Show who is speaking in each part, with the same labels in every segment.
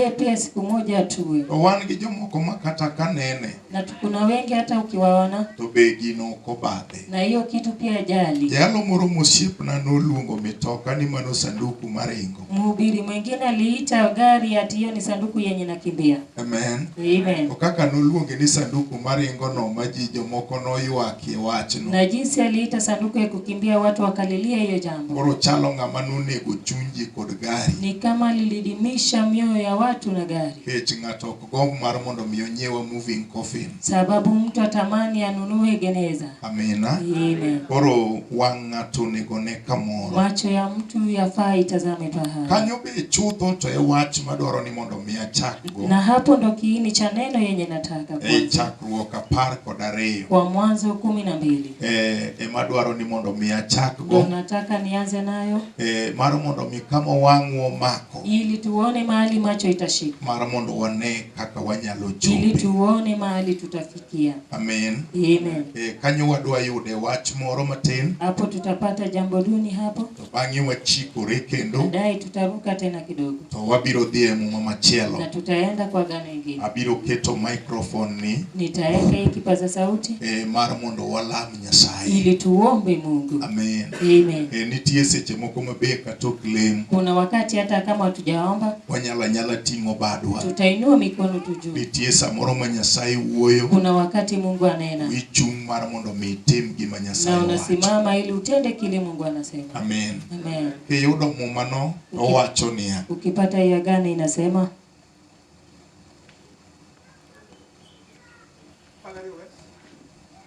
Speaker 1: Yeye pia siku moja atue, To wan gi jomoko ma
Speaker 2: kata ka nene na tu- kuna wengi
Speaker 1: hata ukiwaona to be gin ok
Speaker 2: obadhe. na hiyo kitu pia
Speaker 1: ajali. Jalo moro mosiepna
Speaker 2: noluongo mitoka ni mano sanduku maringo. Mhubiri mwingine
Speaker 1: aliita gari ati hiyo ni sanduku yenye nakimbia. Amen.
Speaker 2: Amen. To kaka
Speaker 1: noluonge ni
Speaker 2: sanduku maringo no ma ji jomoko noywakie wachno. Na jinsi aliita
Speaker 1: sanduku ya kukimbia, watu wakalilia hiyo jambo. Koro chalo ng'ama
Speaker 2: nonego chuny ji kod gari. ni kama
Speaker 1: lilidimisha mioyo ya watu na gari, Nikech ng'ato ok gomb
Speaker 2: mar mondo mi onyiew a moving coffin. sababu mtu
Speaker 1: atamani anunue geneza. Amina.
Speaker 2: Amen. Koro
Speaker 1: wang'
Speaker 2: ng'ato onego ne kamoro. Macho ya mtu
Speaker 1: yafaa itazame pahali, Kanyo be chutho
Speaker 2: to e wach madwaro ni mondo mi achakgo. na hapo ndo kiini
Speaker 1: cha neno yenye nataka E kwanza. chakruok apar
Speaker 2: kod ariyo. Kwa Mwanzo
Speaker 1: kumi na mbili. Eh, ema dwaro
Speaker 2: ni mondo mi achak Ndio nataka nianze
Speaker 1: nayo eh, mar mondo mi
Speaker 2: kama wang'wa omako ili tuone mahali
Speaker 1: macho itashika, mar mondo wane
Speaker 2: kaka wanyalo ili chope tuone mahali
Speaker 1: tutafikia. amen
Speaker 2: Amen. eh,
Speaker 1: kanyo wadwa
Speaker 2: yude wach moro matin Hapo tutapata
Speaker 1: jambo duni hapo, to bang'e wachikore
Speaker 2: kendo baadaye tutaruka
Speaker 1: tena kidogo to wabiro dhi e
Speaker 2: muma na machielo tutaenda kwa
Speaker 1: gano ingine. abiro keto
Speaker 2: microphone ni Nitaweka hii kipaza
Speaker 1: sauti eh, mar mondo
Speaker 2: walam Nyasaye. ili tuombe
Speaker 1: Mungu. Amen.
Speaker 2: Amen. E, nitie
Speaker 1: seche moko
Speaker 2: ma be kata ok lem, Kuna wakati hata
Speaker 1: kama hatujaomba wanyalo anyala ting'o
Speaker 2: badwa. tutainua mikono tu
Speaker 1: juu. Nitie samoro ma
Speaker 2: Nyasaye wuoyo, Kuna wakati Mungu
Speaker 1: anena ichung' mar mondo
Speaker 2: mi itim gima na Nyasaye owacho. unasimama ili
Speaker 1: utende kile Mungu anasema. Amen. Amen.
Speaker 2: Kiyudo
Speaker 1: mumano,
Speaker 2: owacho niya, Ukipata ya gani
Speaker 1: inasema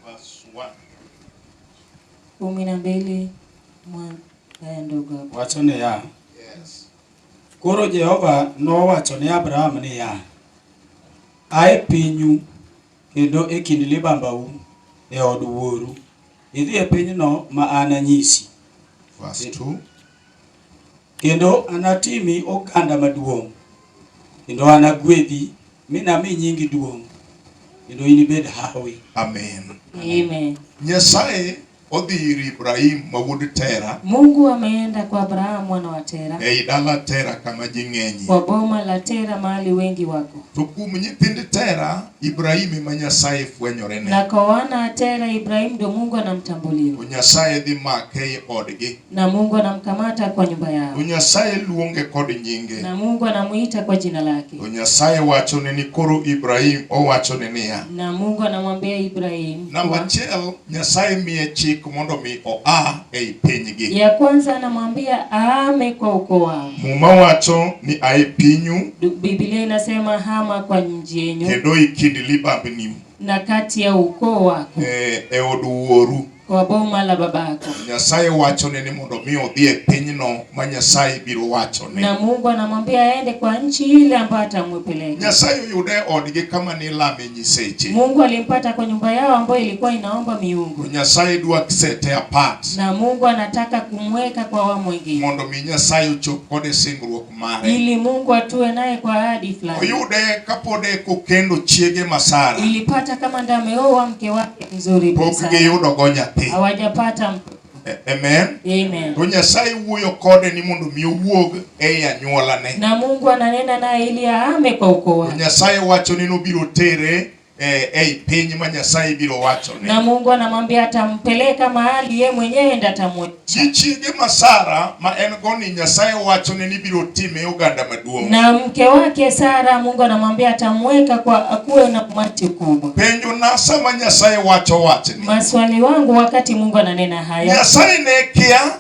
Speaker 2: Verse 1. kumi na
Speaker 1: mbili mwa- eh, ndogo hapo. Wacho niya,
Speaker 2: Yes. koro
Speaker 3: Jehova nowacho ne Abraham niya, a e pinyu kendo e kind libambau e od wuoru, idhi e pinyno ma ananyisi. Verse 2. Kendo anatimi oganda maduong', kendo anagwedhi mi nami nyingi duong', kendo inibed hawi. Amen. Amen.
Speaker 1: Nyasaye
Speaker 2: odhi ir Ibrahim ma wuod Tera. Mungu ameenda
Speaker 1: kwa Abraham mwana wa Tera. Ei dala Tera
Speaker 2: kama ji ng'enyie. Kwa boma la Tera
Speaker 1: mahali wengi wako. To kuom nyithind
Speaker 2: Tera, Ibrahim ema Nyasaye fwenyorene. Na kwa wana Tera,
Speaker 1: Ibrahim ndo Mungu anamtambulia. To Nyasaye dhi
Speaker 2: make ei odgi. Na Mungu anamkamata
Speaker 1: kwa nyumba yao. Nyasaye luonge
Speaker 2: kod nyinge. Na Mungu anamuita
Speaker 1: kwa jina lake. Nyasaye wachone
Speaker 2: ni koro Ibrahim owachone niya. Na Mungu anamwambia
Speaker 1: Ibrahim. Namba achiel
Speaker 2: Nyasaye miye chik mondo mi oa ei pinygi. Ya kwanza anamwambia
Speaker 1: aame kwa ukoo wao. Muma wacho
Speaker 2: ni ae pinyu. Biblia inasema
Speaker 1: hama kwa nchi yenyu. Kendo ikindi
Speaker 2: libambni na kati ya
Speaker 1: ukoo wako e, e od
Speaker 2: wuoru kwa boma la
Speaker 1: babako. Nyasaye wachone
Speaker 2: ni mondo mi odhi e pinyno ma Nyasaye biro wachone. Na Mungu anamwambia
Speaker 1: aende kwa nchi ile ambayo atamwepeleka. Nyasaye oyude
Speaker 2: odgi kama ni lame nyiseche. Mungu alimpata kwa
Speaker 1: nyumba yao ambayo ilikuwa inaomba miungu. Nyasaye dwa
Speaker 2: sete apart. Na Mungu anataka
Speaker 1: kumweka kwa wa mwingine. Mondo mi Nyasaye ochop
Speaker 2: kode singruok mare. ili Mungu atue
Speaker 1: naye kwa ahadi fulani. Oyude kapod
Speaker 2: e kokendo chiege ma Sara. Ilipata kama ndiye
Speaker 1: ameoa mke wake mzuri Pok sana. giyudo go nyathi.
Speaker 2: Hawajapata
Speaker 1: mtoto. A- Amen. Amen.
Speaker 2: To
Speaker 1: Nyasaye wuoyo
Speaker 2: kode ni mondo mi owuog ei anyuolane. Na Mungu ananena
Speaker 1: naye ili ahame kwa ukoo To wake. Nyasaye wacho ni nobiro
Speaker 2: tere eh, ei piny ma Nyasaye biro wacho ne. Na Mungu anamwambia
Speaker 1: atampeleka mahali ye mwenyewe ndiye atamweka. Chi chiege ma
Speaker 2: Sara ma en go ni Nyasaye wacho ne ni biro time oganda maduong'. Na mke wake
Speaker 1: Sara Mungu anamwambia atamweka kwa akuwe na umati kubwa. Penjo na sama
Speaker 2: Nyasaye wacho wachni. Maswali wangu wakati
Speaker 1: Mungu ananena haya. Nyasaye ne kia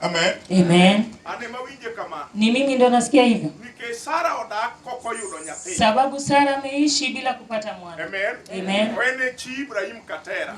Speaker 1: Amen.
Speaker 2: Amen. Ni mimi ndo nasikia
Speaker 1: hivyo.
Speaker 2: Sababu Sara
Speaker 1: ameishi bila kupata mwana. Amen. Amen.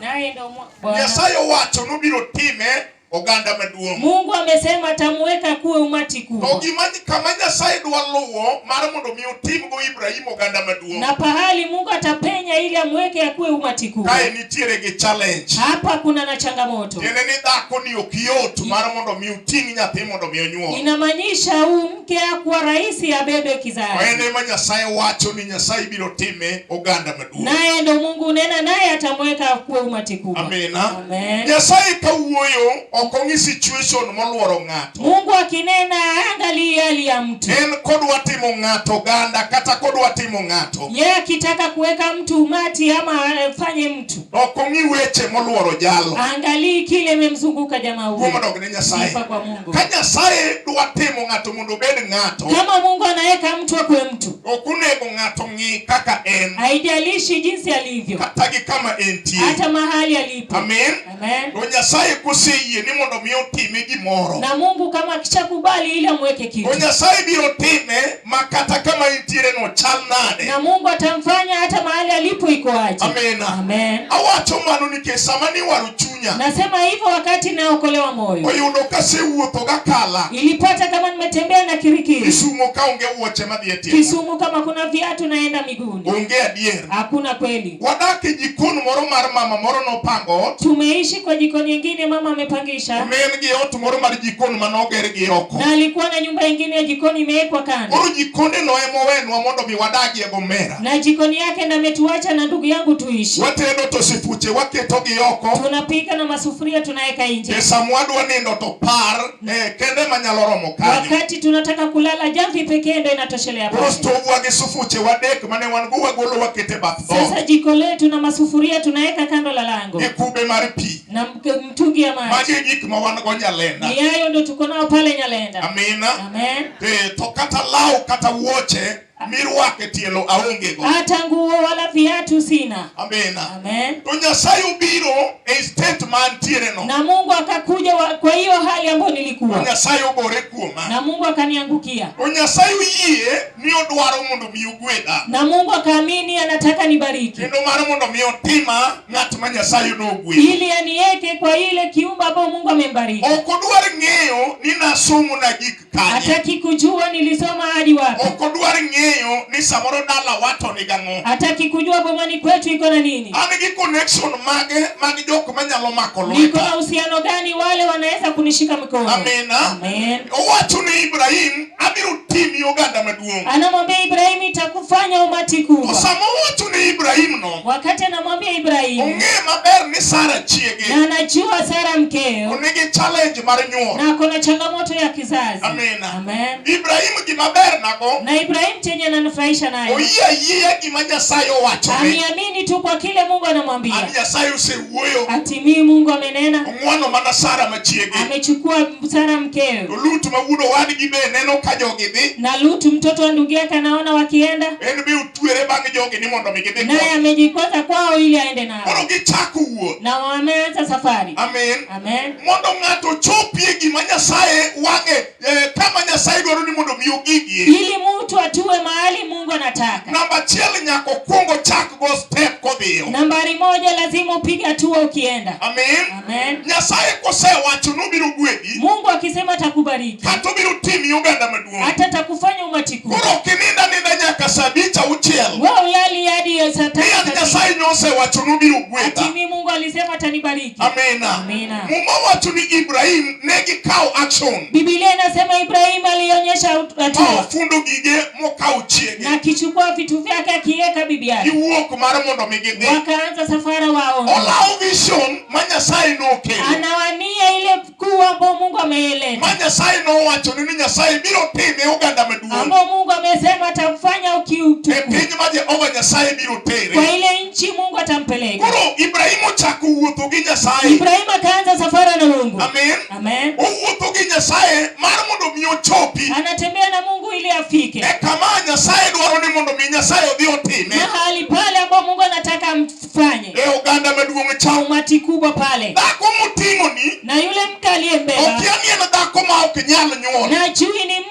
Speaker 2: Naye ndo Nyasaye owacho
Speaker 1: nobiro
Speaker 2: time oganda maduong'. Mungu amesema
Speaker 1: atamuweka kuwe umati kubwa. To gima kama
Speaker 2: Nyasaye dwa luwo mar mondo mi otimgo Ibrahim oganda maduong'. Na pahali Mungu
Speaker 1: atapenya ili amweke akuwe umati kubwa. nitiere gi
Speaker 2: challenge. Hapa kuna na
Speaker 1: changamoto. Tiende ni dhako ni
Speaker 2: ok yot mar mondo mi uting' nyathi mondo mi onyuol. Inamaanisha huyu
Speaker 1: mke hakuwa rahisi abebe kizazi. Kwa hiyo ema Nyasaye
Speaker 2: wacho ni Nyasaye biro time oganda maduong'. Naye ndo Mungu unena
Speaker 1: naye atamweka kuwe umati kubwa. Amina. Amen.
Speaker 2: Nyasaye kawuoyo ok ong'i situation moluoro ng'ato. Mungu akinena
Speaker 1: angalii hali ya mtu. En kodwa timo
Speaker 2: ng'ato ganda kata kodwa timo ng'ato. Yeye akitaka
Speaker 1: kuweka mtu umati ama afanye mtu. Ok ong'i weche
Speaker 2: moluoro jalo. Angalii kile
Speaker 1: imemzunguka jamaa huyo. Kuom dog ne Nyasaye. Sifa kwa
Speaker 2: Mungu. Ka
Speaker 1: Nyasaye dwa
Speaker 2: timo ng'ato mondo obed ng'ato. Kama Mungu anaweka
Speaker 1: mtu akuwe mtu. Ok onego ng'ato
Speaker 2: ng'i kaka en. Haijalishi jinsi
Speaker 1: alivyo. Kata gi kama
Speaker 2: entie. Hata mahali alipo.
Speaker 1: Amen. Amen. To
Speaker 2: Nyasaye
Speaker 1: koseyie
Speaker 2: ni mondo mi otime gimoro. Na Mungu kama
Speaker 1: akishakubali ili amweke kitu. To Nyasaye biro
Speaker 2: time makata kama intiere no chal nade. Na Mungu atamfanya
Speaker 1: hata mahali alipo iko aje. Amen. Amen.
Speaker 2: Awacho
Speaker 1: mano
Speaker 2: nikech sama ni waro chunya. Nasema hivyo wakati
Speaker 1: naokolewa moyo. Oyudo kasewuotho
Speaker 2: gakala. Ilipata kama
Speaker 1: nimetembea na kirikiri. Kisumo kaonge
Speaker 2: wuoche madhi e tienda. Kisumo kama kuna viatu
Speaker 1: naenda miguuni. Onge adier.
Speaker 2: Hakuna kweli.
Speaker 1: Wadak e jikon
Speaker 2: moro mar mama moro nopango ot. Tumeishi kwa jiko
Speaker 1: nyingine mama amepangisha. Ne en gi ot moro
Speaker 2: mar jikon mane oger gi oko. Na alikuwa na nyumba nyingine
Speaker 1: ya jikoni imewekwa kando. Koro jikonde no ema
Speaker 2: owenwa mondo mi wadagie Gomera. Na jikoni yake na
Speaker 1: ametuacha na ndugu yangu tuishi. Watedo to sifuche
Speaker 2: waketo gi oko. Tunapika na masufuria
Speaker 1: tunaweka nje. Pesa mwadwa nindo
Speaker 2: to par Eh, kende manyalo romo kanyo. Wakati tunataka
Speaker 1: kulala jamvi pekee ndio inatoshelea pale. Rostovu gi sufuche
Speaker 2: wadek mane wan go wagolo wakete bath dhoot. Sasa jiko letu
Speaker 1: na masufuria tunaweka kando la lango. Gi kube mar pi.
Speaker 2: Na mtungi ya
Speaker 1: maji. Magi gik ma wan go
Speaker 2: Nyalenda. Ni hayo ndio tuko nao
Speaker 1: pale Nyalenda. Amina. Amen.
Speaker 2: Eh,
Speaker 1: to kata
Speaker 2: law kata wuoche mirwake tielo aonge go hata nguo wala
Speaker 1: viatu sina amina amen
Speaker 2: to nyasaye
Speaker 1: ubiro
Speaker 2: e state man tiere no na mungu akakuja
Speaker 1: wa, kwa hiyo hali ambayo nilikuwa nyasaye ogore
Speaker 2: kuoma na mungu akaniangukia
Speaker 1: to nyasaye
Speaker 2: uyie ni odwaro mondo mi ugweda na mungu akaamini
Speaker 1: anataka nibariki kendo mano mondo mi
Speaker 2: otima ng'at ma nyasaye nogwe ili aniweke
Speaker 1: kwa ile kiumba ambayo mungu amembariki ok odwar ng'eyo
Speaker 2: ni nasomo na gik Hataki kujua
Speaker 1: nilisoma hadi wapi. Ok odwar ng'eyo
Speaker 2: ni samoro dala wato ni gang'o. Hataki kujua bomani
Speaker 1: kwetu iko na nini. An gi connection
Speaker 2: mage mag jok manyalo mako lweta. Niko na uhusiano gani
Speaker 1: wale wanaweza kunishika mikono. Amen. Amen.
Speaker 2: Owacho
Speaker 1: ni
Speaker 2: Ibrahim abiro timi oganda maduong'. Anamwambia Ibrahim
Speaker 1: itakufanya umati kubwa. Osama owacho ni
Speaker 2: Ibrahim no. Wakati anamwambia
Speaker 1: Ibrahim. Ong'e maber ni
Speaker 2: Sara chiege. Na anajua Sara
Speaker 1: mkeo. Onige challenge
Speaker 2: mar nyuol. Na kuna changamoto
Speaker 1: ya kizazi. Amen. Amen.
Speaker 2: Ibrahim
Speaker 1: gima
Speaker 2: ber nago. Na Ibrahim chenye
Speaker 1: ananufurahisha nayo. Oyie ayie gima
Speaker 2: Nyasaye owacho. Amiamini tu kwa
Speaker 1: kile Mungu anamwambia. Ani Nyasaye osewuoyo.
Speaker 2: Ati mimi Mungu
Speaker 1: amenena. Ong'wano mana Sara
Speaker 2: machiege. Amechukua
Speaker 1: Sara mkeo. To Lut ma wudo
Speaker 2: wadgi be neno ka jogi dhi. Na Lut mtoto wa
Speaker 1: ndugu yake anaona wakienda. En be tuere
Speaker 2: bang' jogi ni mondo mi gidhi naye amejikota kwao
Speaker 1: ili aende nao. Koro gichako wuoth.
Speaker 2: Na wameanza
Speaker 1: safari. Amen. Amen.
Speaker 2: Mondo
Speaker 1: ng'ato
Speaker 2: ochopie gima Nyasaye wang'e eh, kama Nyasaye dwaro ni mondo mi ogigie. Ili mtu atue
Speaker 1: mahali Mungu anataka. Namba achiel nyaka
Speaker 2: okwong ochak go step kodhiyo. Nambari moja
Speaker 1: lazima upige hatua ukienda. Amen. Amen.
Speaker 2: Nyasaye
Speaker 1: kosewacho
Speaker 2: ni obiro gwedhi. Mungu akisema
Speaker 1: atakubariki. Kata obiro timi
Speaker 2: oganda maduong'. Hata atakufanya umati
Speaker 1: kubwa. Koro ok ininda ninda
Speaker 2: nyaka saa abich auchiel. Wewe ulali hadi
Speaker 1: ya saa tatu. Pia Nyasaye nosewacho
Speaker 2: ni obiro gwedha. Atimi Mungu alisema
Speaker 1: atanibariki. Amina. Amina.
Speaker 2: Muma
Speaker 1: wacho ni
Speaker 2: Ibrahim ne gikawo action. Biblia inasema
Speaker 1: Ibrahim alionyesha hatua. Ofundo gige
Speaker 2: mokawo chiege na kichukua vitu
Speaker 1: vyake akiweka bibi yake giwuok mar mondo mi
Speaker 2: gidhi wakaanza safara
Speaker 1: wao olawo vision
Speaker 2: ma nyasaye nokelo anawania ile
Speaker 1: kuu ambao mungu ameeleta ma nyasaye nowacho
Speaker 2: ni nyasaye biro time oganda maduong' ambao mungu amesema
Speaker 1: atamfanya ukiutuku e piny ma jehova
Speaker 2: nyasaye biro tere kwa ile nchi mungu
Speaker 1: atampeleka koro ibrahimu
Speaker 2: chako wuotho gi nyasaye ibrahimu akaanza
Speaker 1: safara na mungu amen Amen.
Speaker 2: Owuotho
Speaker 1: gi Nyasaye
Speaker 2: mar mondo mi ochopi. Anatembea na Mungu
Speaker 1: ili afike. E kama Nyasaye
Speaker 2: dwaro ni mondo mi Nyasaye odhi otime. Mahali pale ambapo
Speaker 1: Mungu anataka mfanye. E oganda maduong'
Speaker 2: cha. Umati kubwa pale.
Speaker 1: Dhako moting'oni.
Speaker 2: Na yule mke
Speaker 1: aliyembeba. Okiamia na dhako
Speaker 2: ma ok nyal nyuol. Na chui ni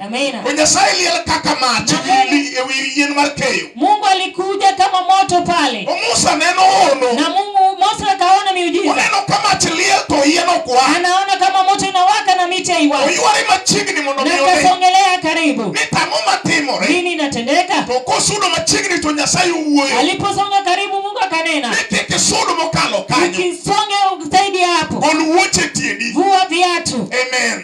Speaker 1: To Nyasaye liel kaka mach ewi yien mar keyo. Mungu alikuja kama moto pale. To Musa neno ono. Na Mungu Musa akaona miujiza. Oneno kama mach liel to yien ok wa. Anaona kama moto inawaka na miti haiwaki. Oyuare machiegni mondo mi one. Nakasongelea karibu. Ni tang'o matimore. Nini inatendeka? To kosudo machiegni to Nyasaye owuoyo. Aliposonga karibu Mungu akanena. Ni kik isudo mokalo kanyo. Ukisonge zaidi hapo. Gol wuoche tiendi. Vua viatu. Amen.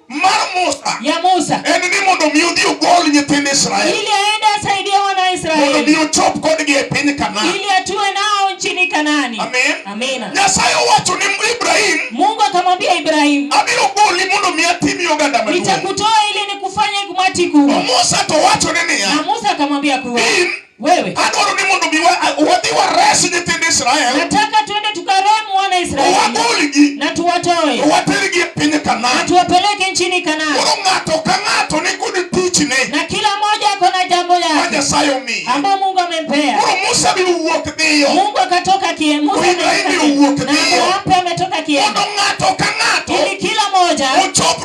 Speaker 1: mar Musa ya Musa en ni mondo mi odhi ogol nyithind Israel ili aende asaidie wana wa Israeli mondo mi ochop kodgi e piny Kanaan ili atue nao nchini Kanani. Amen. Amina. Nyasaye owacho ni Ibrahim, Mungu akamwambia Ibrahim, abiro goli mondo mi atimi oganda maduong'. Nitakutoa ili nikufanye kumati kubwa. Musa to wacho ni niya, na Musa akamwambia kuwa Wewe. Adwaro ni mondo wadhi wares nyithind Israel. Nataka tuende tukaremu wana Israeli. Wagolgi. Na tuwatoe. Watergi e piny Kanaan. Na tuwapeleke nchini Kanaan. Koro ng'ato ka ng'ato ni kod tichne. Na kila mmoja ako na jambo lake. Ma Nyasaye omiye. Ambao Mungu amempea. Koro Musa biro wuok dhiyo. Mungu akatoka kie. Musa biro wuok dhiyo. Na Abraham pia ametoka kie. Mondo ng'ato ka ng'ato. Ili kila mmoja. Ochop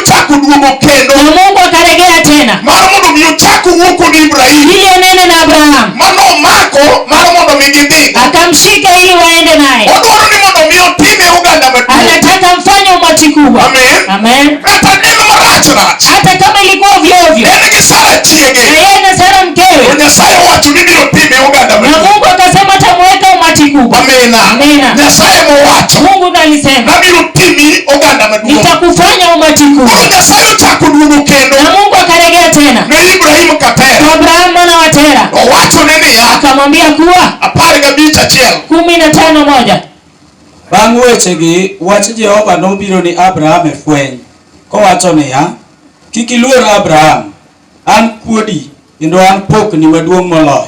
Speaker 1: chako duogo kendo na mungu akaregea tena mar mondo mi ochak owuo kod ibrahim ili onene na abraham mano omako mar mondo mi gidhigo akamshika ili waende naye odwaro ni mondo mi otime oganda maduong' anataka mfanye umati kubwa Amen. amen kata ne marach rach hata kama ilikuwa ovyo ovyo en gi sara na chiege yeye na sara to mkewe nyasaye owacho ni biro time oganda na maduong' mungu akasema tamuweka umati kubwa amina Amina. nyasaye mowacho mungu ndo alisema nabiro timi oganda maduong'. Nitakufanya umati kuu. Koro Nyasaye ochako duogo kendo. Na Mungu akarejea tena. Ne Ibrahim ka Tera. Kwa Abraham mwana wa Tera. Owachone niya. Akamwambia kuwa. Apar gabich achiel. Kumi na tano moja. Bang'
Speaker 3: wechegi, wach Jehova nobiro ni Abraham e fweny, kowacho niya, Kik iluor Abraham, an kuodi, kendo an pokni maduong' moloyo.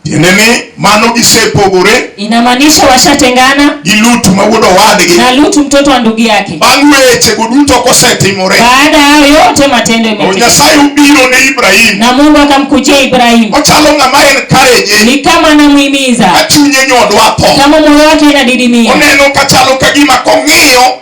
Speaker 3: Tiende
Speaker 2: ni mano gisepogore. Inamaanisha
Speaker 1: washatengana. Gi Lutu ma wuod
Speaker 2: owadgi. Na Lutu mtoto wa
Speaker 1: ndugu yake. Bang' weche go
Speaker 2: duto kosetimore. Baada ya hayo yote
Speaker 1: matendo yametendeka. Nyasaye ubiro ne
Speaker 2: Ibrahim. Na Mungu akamkujia
Speaker 1: Ibrahim. Ochalo ng'ama
Speaker 2: encourage. Ni kama anamuhimiza.
Speaker 1: Ka chunye nyodwa
Speaker 2: tho. Kama moyo wake inadidimia.
Speaker 1: Oneno kachalo
Speaker 2: kagima kong'iyo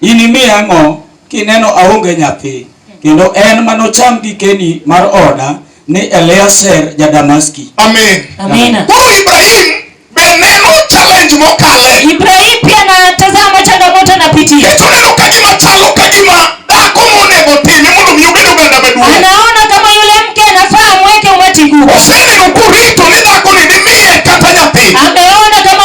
Speaker 3: Inimiya ang'o kineno aonge nyathi? Kendo en ma nocham gikeni mar oda ni Eliezer ja-Damaski. Amen. Amina.
Speaker 2: Koro
Speaker 1: Ibrahim
Speaker 2: be neno challenge mokale. Ibrahim pia
Speaker 1: anatazama changamoto anapitia. Nikech oneno ka gima
Speaker 2: chalo ka gima dhako monego otime mondo mi obed oganda maduong'. Anaona kama yule
Speaker 1: mke anafaa amweke umati huu. Oseneno kurito
Speaker 2: ni dhakoni dimiye kata nyathi. Ameona kama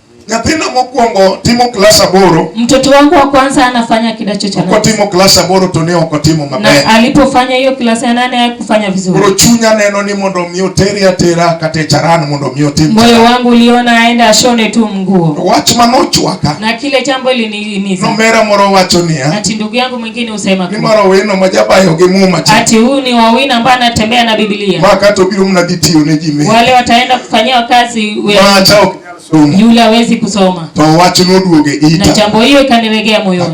Speaker 2: Nyathina mokwongo timo klas aboro. Mtoto wangu wa kwanza
Speaker 1: anafanya kidato cha nane. Okotimo klas aboro to
Speaker 2: ne ok otimo maber. Na alipofanya hiyo
Speaker 1: klas ya nane hakufanya vizuri. Koro chunya neno ni
Speaker 2: mondo mi oteri atera kata e charan mondo mi otim. Moyo wangu uliona
Speaker 1: aenda ashone tu mguo. Wach manochwaka.
Speaker 2: Na kile jambo
Speaker 1: lininiza. Nomera moro wacho
Speaker 2: niya. Ati ndugu yangu mwingine
Speaker 1: usema kwa. Nimaro wino majabayo
Speaker 2: gi muma cha. Ati huyu ni wawina
Speaker 1: ambaye anatembea na Biblia. Maka to biro mnadhi
Speaker 2: tiyo ne ji. Wale wataenda kufanyia
Speaker 1: kazi wewe. Maacha
Speaker 2: Yule hawezi
Speaker 1: kusoma. Na
Speaker 2: jambo hiyo ikaniregea
Speaker 1: moyoni.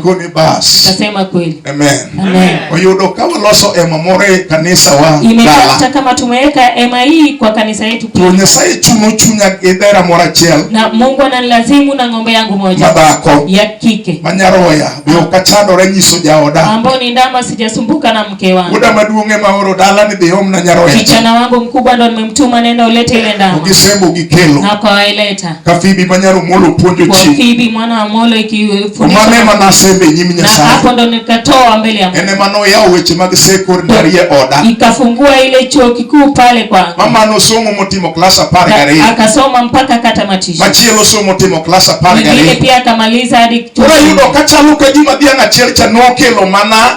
Speaker 1: Nikasema
Speaker 2: kweli. Amen.
Speaker 1: Amen.
Speaker 2: Oyudo
Speaker 1: ka waloso
Speaker 2: ema moro e kanisa wa. Imepata kama
Speaker 1: tumeweka ema hii kwa kanisa yetu. To Nyasaye chuno
Speaker 2: chunya gi dhera moro achiel. Na Mungu ananilazimu
Speaker 1: na ng'ombe yangu moja. Madhako. Ya kike. Manyaroya. Be ok
Speaker 2: achando ranyiso jaoda. Ambao ni ndama
Speaker 1: sijasumbuka na mke wangu. Muda maduong' ema oro
Speaker 2: dala ni dhi omna nyaroya. Kijana wangu mkubwa ndo
Speaker 1: nimemtuma nenda ulete ile ndama. Ukisembo ukikelo. Na
Speaker 2: kwa waileta.
Speaker 1: Kafibi manyaro
Speaker 2: molo puonjo chi. Kafibi mwana wa molo
Speaker 1: ikifundisha. Omane ema nasembe
Speaker 2: nyim Nyasaye. Na hapo ndo nikatoa
Speaker 1: mbele ya Mungu. Ene mano ya weche mag
Speaker 2: sekor ndarie oda. Ikafungua ile
Speaker 1: chuo kikuu pale kwa. Mama no somo motimo
Speaker 2: klasa apar gariyo. Akasoma mpaka
Speaker 1: katamatisha. Machielo somo timo
Speaker 2: klasa apar gariyo. Ile pia akamaliza
Speaker 1: hadi. Ora yudo kachalo
Speaker 2: ka gima dhiang' achiel cha nokelo mana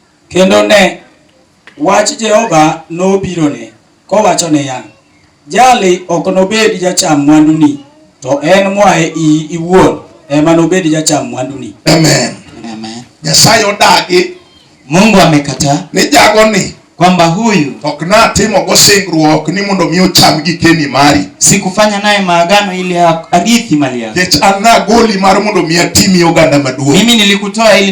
Speaker 1: Kendo
Speaker 3: ne! wach Jehova nobirone, kowacho niya, Jali ok nobed jacham mwanduni, to en moa e iyi iwuon ema nobed jacham mwanduni. Amen. Amen.
Speaker 1: Nyasaye odagi.
Speaker 2: Mungu
Speaker 1: amekataa. Ni jago ni
Speaker 2: kwamba huyu
Speaker 1: ok natimogo
Speaker 2: singruok ni mondo mi ocham gikeni mari, sikufanya naye
Speaker 1: maagano ili arithi mali yako, nikech an nagoli
Speaker 2: mar mondo mi atimi oganda maduong'. Mimi nilikutoa ili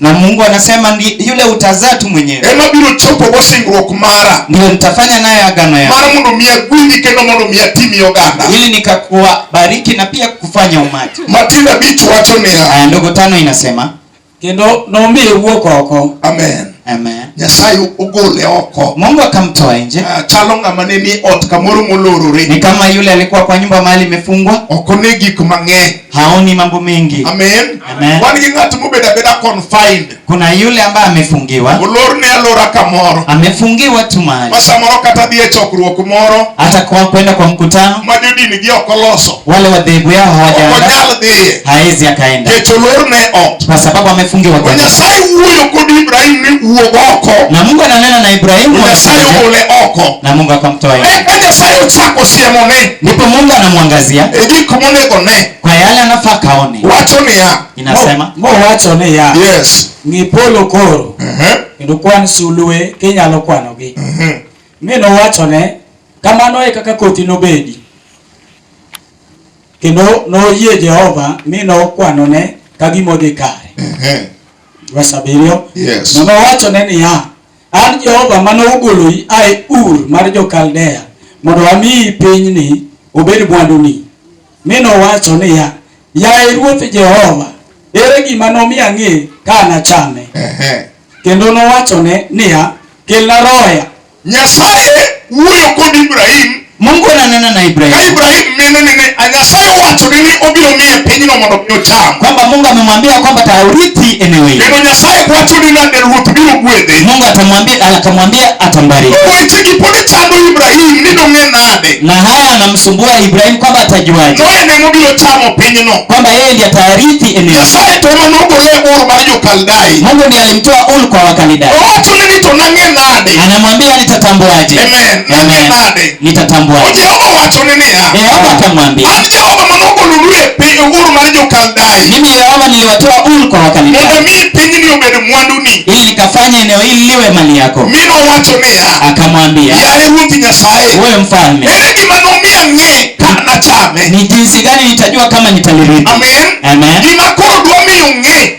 Speaker 2: na mungu anasema
Speaker 1: ndi, yule utazaa tu mwenyewe ema biro chopo go
Speaker 2: singruok mara ndio nitafanya naye
Speaker 1: agano yangu mara mondo miya gwingi
Speaker 2: kendo mondo miya timi oganda ili nikakuwa
Speaker 1: bariki na pia kufanya umati matin abich wacho
Speaker 2: niya aya ndogo tano inasema
Speaker 1: kendo
Speaker 3: nomiye wuok oko amen amen
Speaker 2: nyasaye
Speaker 1: ogole
Speaker 2: oko mungu akamtoa
Speaker 1: nje Ah, chalo ng'ama ne ni
Speaker 2: ot kamoro molorore ni kama yule alikuwa
Speaker 1: kwa nyumba mahali imefungwa oko ne gik
Speaker 2: mang'eny haoni mambo
Speaker 1: mengi. Amen. Amen. Wan
Speaker 2: gi ng'at
Speaker 1: mobedo abeda
Speaker 2: confined. Kuna yule ambaye
Speaker 1: amefungiwa. Olor ne alora
Speaker 2: kamoro. Amefungiwa tu
Speaker 1: mahali. Ma samoro kata dhi e
Speaker 2: chokruok moro. Hata kwa kwenda kwa
Speaker 1: mkutano. Ma jodini gi ok
Speaker 2: oloso. Wale wadhehebu yao
Speaker 1: hawajaandaa. Ok onyal dhiye.
Speaker 2: Haezi akaenda. Kech
Speaker 1: olor ne
Speaker 2: ot. Kwa sababu amefungiwa
Speaker 1: kwa. Nyasaye wuoyo kod
Speaker 2: Ibrahim ni wuog oko. Na Mungu ananena na
Speaker 1: Ibrahimu. Nyasaye ogole
Speaker 2: oko. Na Mungu akamtoa.
Speaker 1: Eka Nyasaye ochako
Speaker 2: siemone. ndipo Mungu anamwangazia
Speaker 1: e gik monego
Speaker 2: ne, kwa yale anafaa
Speaker 1: kaone. Wacho ni ya
Speaker 2: inasema mo, mo wacho
Speaker 1: ni ya
Speaker 3: yes ni polo
Speaker 2: koro uh mhm.
Speaker 3: -huh. kendo kwan sulue kinyalo kwanogi uh mhm. -huh. mi nowacho ne kamano e kaka koti nobedi kendo noyie Jehova mi nokwanone ka gimodhi kare. uh mhm. -huh. Verse abiriyo yes. Nowacho
Speaker 2: ne niya
Speaker 3: An Jehova mane ogoloi a e Ur mar jo-Kaldea mondo amiyi pinyni obed mwanduni. Mi nowacho niya, Yaye Ruoth Jehova, ere gima nomi ang'e ka anachame? Ehe. Kendo nowachone niya, Kelna roya. Nyasaye
Speaker 2: wuoyo kod Ibrahim Mungu ananena
Speaker 1: na Ibrahim. Ka Ibrahim mino nene
Speaker 2: Nyasaye owacho ni ni obiro miye pinyno mondo mi ocham. Kwamba Mungu amemwambia
Speaker 1: kwamba taurithi eneo hili. Neno Nyasaye kwacho ni
Speaker 2: na ruoth biro gwedhe. Mungu atamwambia
Speaker 1: akamwambia atambariki. Weche gi pod
Speaker 2: chando Ibrahim ni dong'e nade. Na haya anamsumbua
Speaker 1: Ibrahim kwamba atajuaje. No ene mobiro chamo
Speaker 2: pinyno. Kwamba yeye ndiye
Speaker 1: atarithi eneo. Nyasaye to ema nogolo
Speaker 2: e bor mar Jokaldai. Mungu ndiye alimtoa
Speaker 1: Ur kwa Wakalidai. Owacho ni to nang'e
Speaker 2: nade. Anamwambia nitatambuaje.
Speaker 1: Amen. nodhi Amen. nade
Speaker 2: nitatambua To jehova
Speaker 1: owachone
Speaker 2: niya yehova akamwambia an
Speaker 1: jehova mane
Speaker 2: ogolulu e piny uru mar jokaldai mimi yehova niliwatoa
Speaker 1: uru kwa mondo wakaldayo mi pinyni
Speaker 2: obed mwanduni ili nikafanya
Speaker 1: eneo hili liwe mali yako mi nowacho niya
Speaker 2: akamwambia yaye
Speaker 1: ruoth nyasaye
Speaker 2: wewe mfalme ere
Speaker 1: gima nomiyo
Speaker 2: ang'e ka nachame ni jinsi gani
Speaker 1: nitajua kama nitalirithi amen Amen.
Speaker 2: gima koro
Speaker 1: dwa miyo
Speaker 2: ng'e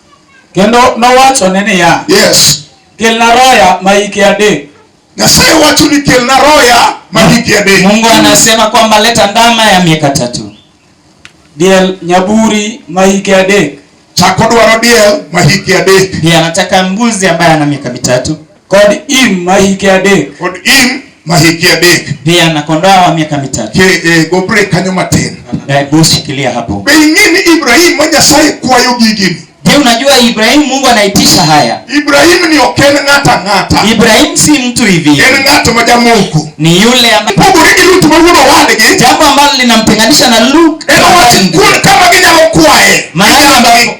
Speaker 2: Kendo nowachone niya, Yes. Kelna roya ma hike adek. Nyasaye wacho ni kelna roya ma hike adek. Mungu anasema
Speaker 3: kwamba leta ndama ya miaka tatu.
Speaker 2: Diel nyaburi ma hike adek. Chako dwaro diel ma hike adek. Ndiye anataka mbuzi
Speaker 3: ambaye ana miaka mitatu. Kod Im
Speaker 2: ma hike adek. Kod Im ma hike adek. Pia na kondoa wa
Speaker 3: miaka mitatu. Ke e gobre kanyo matin.
Speaker 2: Na busi kilia
Speaker 3: hapo. Be ing'e ni Ibrahim
Speaker 2: ma Nyasaye kwayo gigini. Je, unajua
Speaker 3: Ibrahim Mungu anaitisha haya? Ibrahim ni oken
Speaker 2: ng'ata ng'ata. Ibrahim si
Speaker 3: mtu hivi. En ng'ato ma jamungu.
Speaker 2: Ni yule ambaye
Speaker 3: pogore gi Lut ma wuod
Speaker 2: owadgi. Jambo ambalo
Speaker 3: linamtenganisha na Lut. En owacho kuon kama
Speaker 2: ginyalo kwaye. Mahali ambapo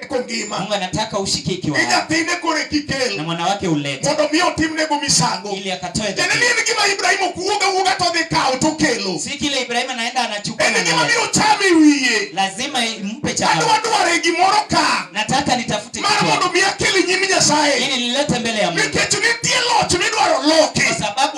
Speaker 2: eko ngima mungu anataka ushike
Speaker 3: ikiwa ni hai nyathine koro na ekikel
Speaker 2: mwana wake ulete mondo
Speaker 3: mi otimnego
Speaker 2: misango ili akatoe tiende ni
Speaker 3: dhabihu. en gima ibrahim
Speaker 2: ok wuog awuoga to dhi kawo tokelo si kile ibrahimu anaenda
Speaker 3: anachukua en na gima analeta. biro chame
Speaker 2: wiye lazima mpe
Speaker 3: adwa chakula dware gimoro
Speaker 2: ka nataka nitafute mar
Speaker 3: kitu mondo mi akel nyim
Speaker 2: nyasaye ili nilete mbele ya
Speaker 3: mungu nikech nitie loch
Speaker 2: midwaro loki kwa sababu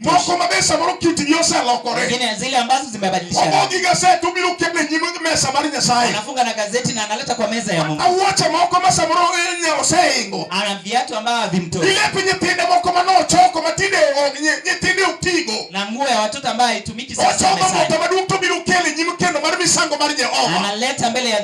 Speaker 3: moko ma mesa moro kit
Speaker 2: gi oselokore nyingine zile ambazo
Speaker 3: zimebadilishwa omogi gaset obiro
Speaker 2: keto e nyim mesa mar nyasaye anafunga na gazeti na
Speaker 3: analeta kwa meza ya mungu awuoche moko ma samoro
Speaker 2: e, oseingo ana viatu ambavyo
Speaker 3: havimtoi ilepi nyithinde moko
Speaker 2: ma nochoko ma tinde nyithinde otigo na nguo ya watoto
Speaker 3: ambayo haitumiki sasa ochoko moto maduong' to biro kele nyim kendo mar misango mar jehova analeta mbele ya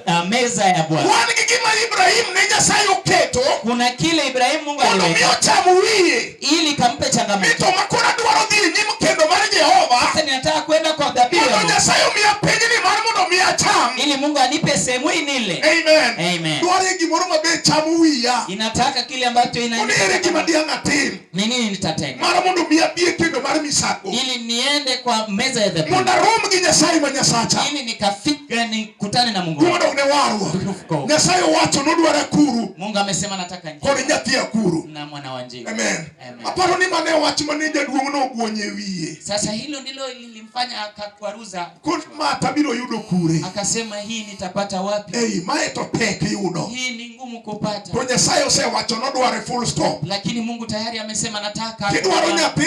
Speaker 3: uh, meza ya bwana wan gi gima ibrahim ne nyasaye oketo kuna kile ibrahim mungu aliweka mondo mi ocham wiye ili kampe changamoto. Mito makona dwaro dhi e nyim kendo mar Jehova. Sasa ninataka kwenda kwa dhabihu. Mondo Nyasaye omiya pinyni mar mondo omi acham. Ili Mungu anipe sehemu hii nile. Amen. Amen. Dwaro gimoro maber chamo wiya. Inataka kile ambacho ina. Onere gima diang' atim. Ni nini nitatenda? Mar mondo omi abie kendo mar misango. Ili niende kwa meza ya dhabihu. Mondo arom gi Nyasaye ma Nyasacha. Ili nikafika nikutane na Mungu. Mondo ne warwa. Nyasaye owacho nodwara kuru. Mungu amesema nataka. Kod nyathi akuru. Na mwana wa njiwa. Amen. Amen. Aparo
Speaker 2: ni mane wach mane jaduong' no
Speaker 3: ogwonye wiye. Sasa hilo ndilo lilimfanya akakwaruza. Kod ma tabiro yudo kure. Akasema hii nitapata wapi? Ei, mae to tek yudo. Hii ni ngumu kupata. To Nyasaye osewacho nodware full stop. Lakini Mungu tayari amesema nataka. Kidwaro nyathi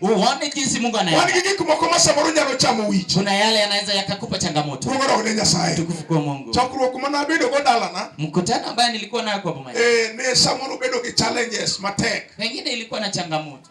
Speaker 2: uone jinsi Mungu
Speaker 1: anaenda. Wan gi gik moko ma samoro
Speaker 2: nyalo chamo wich. Kuna yale yanaweza
Speaker 1: yakakupa changamoto. Duogo dog ne Nyasaye.
Speaker 2: Tukufu kwa Mungu. Chokruok
Speaker 1: ma nabedo go
Speaker 2: dalana. Mkutano ambaye nilikuwa
Speaker 1: nayo kwa boma. Eh, ne samoro
Speaker 2: bedo gi challenges
Speaker 1: matek.
Speaker 2: Pengine
Speaker 1: ilikuwa
Speaker 2: na
Speaker 1: changamoto.